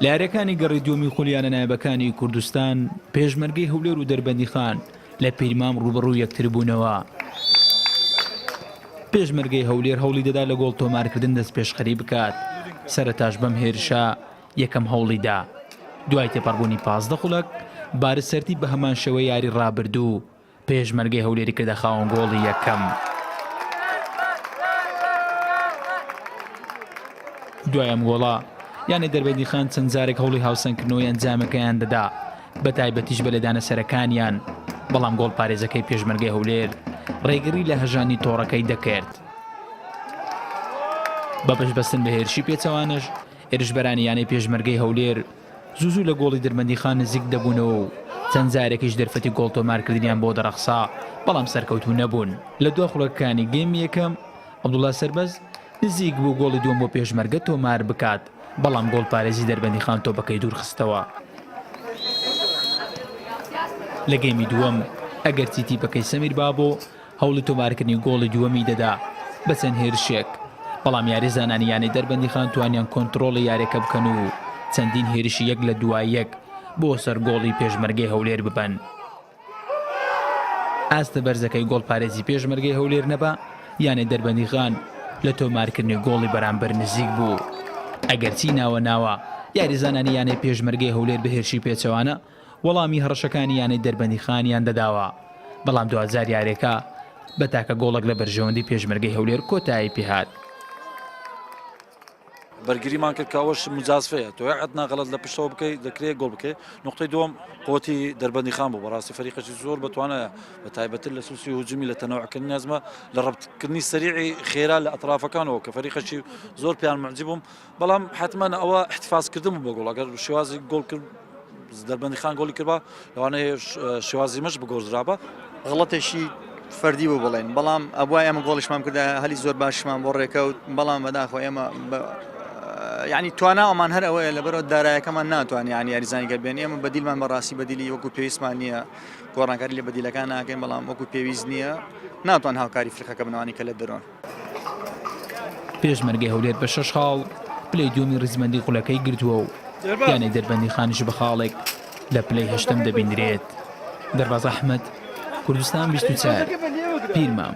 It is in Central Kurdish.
لە یاریەکانی گەڕی دووەمی خولیانە نایبەکانی کوردستان پێشمەرگەی هەولێر و دەربەندیخان لە پیرمام ڕوبڕوو یەکتربوونەوە. پێشمەرگەی هەولێر هەوڵی دەدا لە گۆڵ تۆمارکردن دەست پێشخەری بکات سەرتاش بەم هێرشە یەکەم هەوڵیدا دوای تێپەڕبوونی پازدە خولک بارسەرتی بە هەمان شێوە یاری ڕابردوو پێشمەرگەی هەولێری کردە خاوەن گۆڵی یەکەم. دوای ئەم گۆڵە یانەی دەربەندیخان چەند جارێک هەوڵی هاوسەنگکردنەوەی ئەنجامەکەیان دەدا بە تایبەتیش بە لێدانە سەرەکانیان بەڵام گۆڵ پارێزەکەی پێشمەرگەی هەولێر ڕێگری لە هەژانی تۆڕەکەی دەکرد بە پشبەستن بە هێرشی پێچەوانش هێرشبەرانی یانەی پێشمەرگەی هەولێر زوو زوو لە گۆڵی درمەندیخان نزیک دەبوونەوە و چەند جارێکیش دەرفەتی گۆڵ تۆمارکردنیان بۆ دەڕەخسا، بەڵام سەرکەوتوو نەبوون. لە دوا خولەکەکانی گێمی یەکەم، عەبدوڵا سەربەست نزیک بوو گۆڵی دووەم بۆ پێشمەرگە تۆمار بکات، بەڵام گۆڵپارێزی دەربەندیخان تۆپەکەی دوورخستەوە. لە گێمی دووەم، ئەگەرچی تیپەکەی سەمیر بابۆ، هەوڵی تۆمارکردنی گۆڵی دووەمی دەدا بە چەند هێرشێک، بەڵام یاریزانانی یانەی دەربەندیخان توانیان کۆنتڕۆڵی یاریەکە بکەن و چەندین هێرشی یەک لە دوای یەک بۆ سەر گۆڵی پێشمەرگەی هەولێر ببەن. ئاستە بەرزەکەی گۆڵپارێزی پێشمەرگەی هەولێر نەبا، یانەی دەربەندیخان لە تۆمارکردنی گۆڵی بەرامبەر نزیک بوو، ئەگەرچی ناوە ناوە یاریزانانی یانەی پێشمەرگەی هەولێر بە هێرشی پێچەوانە وەڵامی هەڕەشەکانی یانەی دەربەندیخانیان دەداوە، بەڵام دواجار یاریەکە بە تاکە گۆڵێک لە بەرژەوەندی پێشمەرگەی هەولێر کۆتایی پێهات. بەرگریمان کرد کاوەش مجازفەیە تۆ عدنا غەڵت لە پشتەوە بکەیت دەکرێت گۆڵ بکەیت نقطەی دوم قوتی دەربەندی خان بوو بەڕاستی فەریقەی زۆر بەتوانایە بە تایبەتر لە سوسی هجومی لە تەنەوەکردنی نازمە لە ڕبتکردنی سەریعی خێرا لە ئەترافەکانەوە کە فەریقەشی زۆر پێیان معجبووم بەڵام حتمما ئەوە احتفازکردن بە گۆڵ ئەگەر شێوازی گۆڵ کرد دەربەندی خان گۆڵی کردبا لەوانەیە شێوازی مەش بگۆزرابە غڵەتێکی فەردی بۆ بڵێن بەڵام ئەبووە ئێمە گۆڵیشمان کردە هەلی زۆر باشمان بۆ ڕێکەوت بەڵام بەداخۆ ئێمە ینی توانا ئەمان هەر ئەوەیە لە بەرەوە دارایەکەمان ناتوانانی ینی یاریزانگە بێن ئێمە بەدیلمان بەڕاستی بەدیلی وەکو پێویستمان نییە گۆڕانکاری لە بەدیلەکان ناکەین بەڵام وەکو پێویست نییە ناتوان هاوکاری فرقەکە بنوانی کە لە دەرۆن پێشمەرگەی هەولێر بە شەش خاڵ پلەی دووەمی ڕیزبەندی خولەکەی گرتووە و یانەی دەربەندیخانیش بە خاڵێک لە پلەی هەشتەم دەبینرێت دەرباز ئەحمد کوردستان 24 پیرمام